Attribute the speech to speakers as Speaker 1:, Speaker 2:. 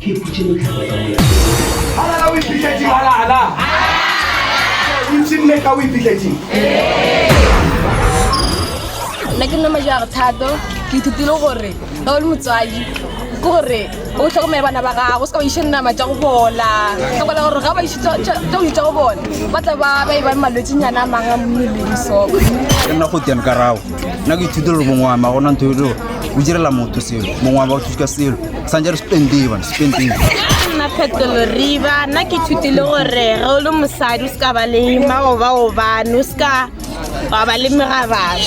Speaker 1: Ke ikhutše mohlakwa ka mola. Halala o ipitletšeng, halala. O ntše mme ka o ipitletšeng. Nna ke nna majo a re thato ke ithutile gore ga o le motswadi ke gore o tlhokomele bana ba gago o se ka ba iše nama tša go bola tlhokola gore ga ba iše tša go itša go bona ba tla ba ba e ba malwetsenyana a mang a mmeleng so ke nna go tene
Speaker 2: ka rago nna ke ithutile gore mongwe wa ma gona ntho eo o direla motho selo mongwe wa ba o thusa ka selo santse re spendee bana spendee nna
Speaker 3: phetolo riba nna ke ithutile gore ge o le mosadi o se ka ba le maobaobane o se ka wa ba le megabane